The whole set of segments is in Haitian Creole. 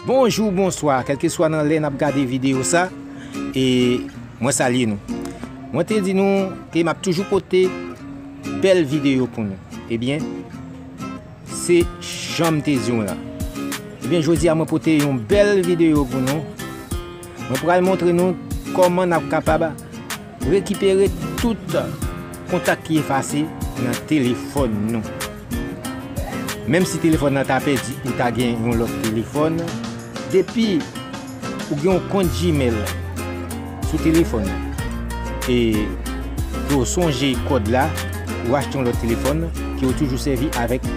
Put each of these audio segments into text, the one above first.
Bonjou bonswa kelkeswa nan lè nap gade video sa e mwen salye nou mwen te di nou ke map toujou pote bel video pou nou e byen se janm te di nou la e byen jodi a mwen pote yon bel video pou nou mwen pral montre nou koman nap kapab Rekipere tout kontak ki efase nan telefòn nou. Menm si telefòn nan ta pèdi ou ta gen yon lòt telefòn, depi ou gen yon kont Gmail sou telefòn ou e ke w sonje kòd la, ou achte yon lòt telefòn ke w toujou sèvi avèk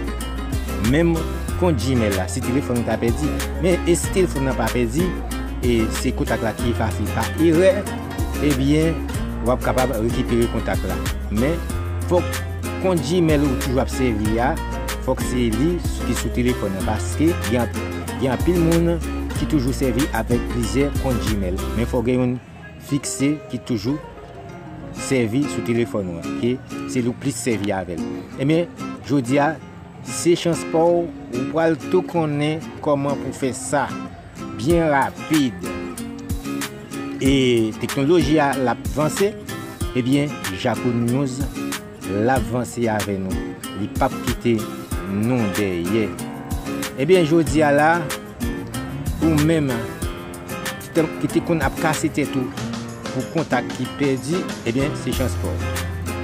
menm kont Gmail la si telefòn ou ta pèdi. Men e si telefòn nan pa pèdi e se kontak la ki efase pa erè? Ebyen, w ap kapab rekipere kontak la. Men, fòk kont Gmail ou toujou ap sèvi a, fòk se li ki sou telefòn nan paske gen anpil moun ki toujou sèvi avèk plizyè kont Gmail. Men fòk gen youn fikse ki toujou sèvi sou telefòn ou an, ke se li ou plis sèvi avè l. Ebyen, jodi a, se chans pa w, ou pral tou konnen kòman pou fè sa. byen rapid e teknoloji a l ap vanse ebyen Jaconews l ap vanse avè nou li p ap kite nou dèyè ebyen jodi a la ou menm ki te konn ap kase tèt ou pou kontak ki pèdi ebyen se chans paw.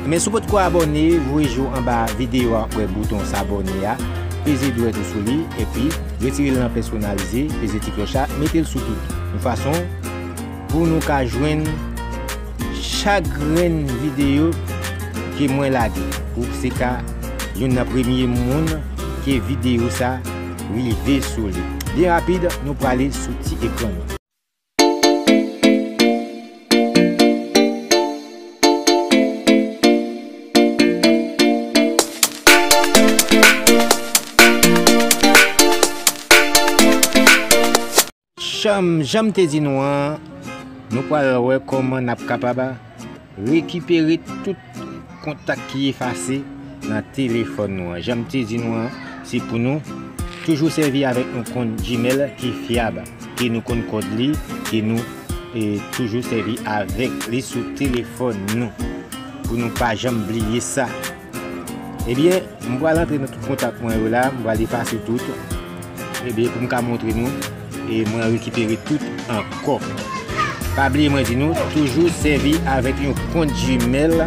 Men si w potko abòne voye je w anba videyo a wè bouton s'abonner a peze dwèt ou sou li epi retire l nan pèsonalize peze ti klòch la mete l sou tout yon fason pou nou ka jwenn chak grenn videyo ke mwen lage pou w se ka youn nan premye moun ke videyo sa rive sou li byen rapid nou prale sou ti ekran nou. Chanm janm te di nou an nou pral wè kòman nap kapab Rekipere tout kontak ki efase nan telefòn nou an. Jan m te di nou an, se pou nou toujou sèvi avèk yon kont Gmail ki fyab, ke nou konn kòd li, ke nou toujou sèvi avèk li sou telefòn nou, pou nou pa janm bliye sa. Ebyen m pral antre nan tout kontak mwen yo la, m pral efase tout, ebyen pou m ka montre nou e mwen rekipere tout ankò. Pa bliye mwen di nou toujou sèvi avèk yon kont Gmail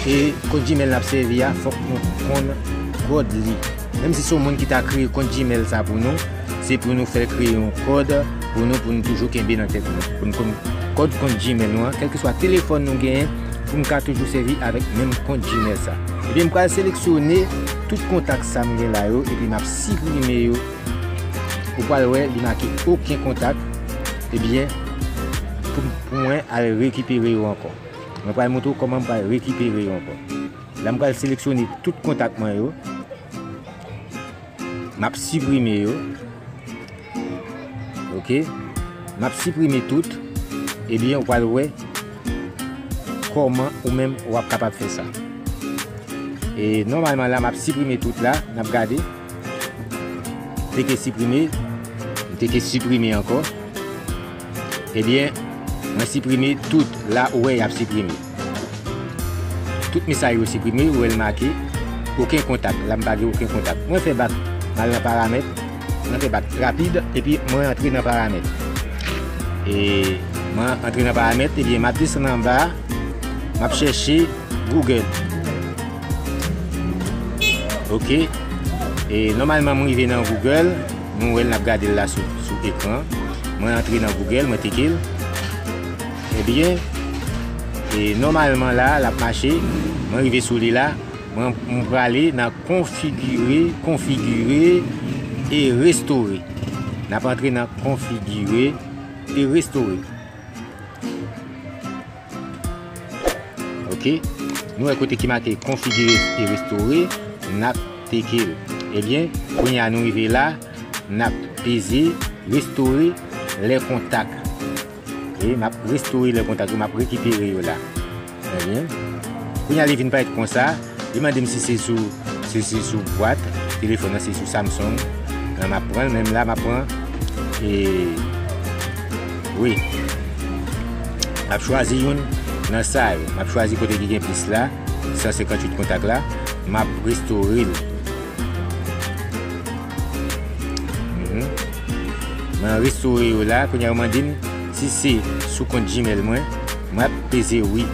e kont Gmail nap sèvi a fòk nou konn kòd li. Menm si se yon moun ki ta kreye kont Gmail sa pou nou, se pou nou fèl kreye yon kòd pou nou pou nou toujou kenbe nan tèt nou. Pou nou konn kòd kont Gmail nou an, kèlkeswa telefòn nou genyen. pou m ka toujou sèvi avèk menm kont Gmail sa. Ebyen m pral seleksyone tout kontak sa m gen la yo epi map siprime yo. Ou pral wè li make oken kontak. Ebyen pou mwen al rekipere yo ankò. Mwen pral montre w kòman m pral rekipere yo ankò. La m pral seleksyone tout kontak mwen yo. Map siprime yo. Ok. Map siprime tout. Ebyen eh ou pal wè. Koman ou menm wap kapab fè sa. E normalman la map siprime tout la. Nap gade. Teke siprime. Teke siprime anko. Ebyen eh mwen siprime tout. La ou wè yap siprime. Tout mesaj yo siprime, ou wè l make Oken kontak, la m pa gen oken kontak. Mwen fè bak, m al nan paramèt, mwen fè bak rapid epi mwen antre nan paramèt. E mwen antre nan paramèt, ebyen m ap desann anba, m ap chèche Google. Ok, e nòmalman m rive nan Google, nou wè l n ap gade l la sou ekran. Mwen antre nan Google, mwen teke l. Ebyen e nòmalman la lap mache mwen rive sou li la mwen mwen prale nan konfigire konfigire e restore nap antre nan konfigire e restore ok nou wè kote ki make konfigire e restore nap teke l ebyen kounye a nou rive la nap peze restore lè kontak E map restore le kontak yo, map rekipere yo la. Ebyen, kounye a li vin parèt konsa, li mande m si se sou, si se sou bwat telefòn nan, si se sou Samsung. Lan map pran l, menm la map pran e wi. Map chwazi youn nan sa yo, map chwazi kote ki gen plis la, 158 kontak la, map restore l. Mwen restore yo la, kounye a ou mande m si se sou kont Gmail mwen, mwen ap peze wi.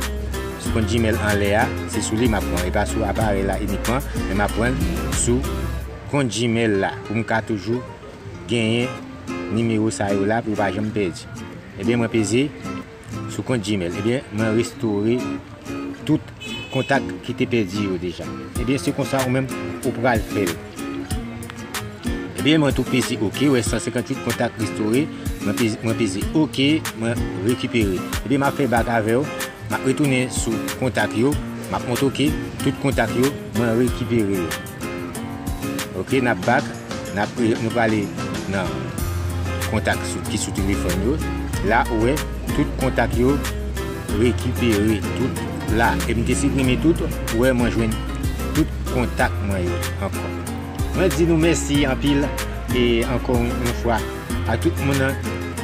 Sou kont Gmail anlè a, se sou li m ap pran, e pa sou aparèy la inikman, men m ap pran sou kont Gmail la pou m ka toujou genyen nimewo sa yo la pou yo pa janm pèdi. Ebyen mwen peze. Sou kont Gmail ebyen mwen restore tout kontak ki te pèdi yo deja ebyen se konsa ou menm ou pral fèl ebyen mwen tou peze ok ou wè 158 kontak restore mwen peze ok mwen rekipere ebyen map fè bak avèw map retounen sou kontak yo map montre ok tout kontak yo mwen rekipere yo. Ok nap back nap nou prale nan kontak ki sou telefòn yo la ou wè tout kontak yo rekipere tout la e m te siprime tout ou wè mwen jwenn tout kontak mwen yo ankò mwen di nou mèsi anpil e ankò yon fwa. A tout moun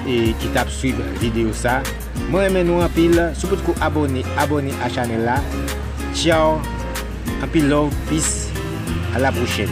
ki tap swiv video sa mwen renmen nou anpil si w potko abone abone a chanel la ciao anpil love peace a la prochèn.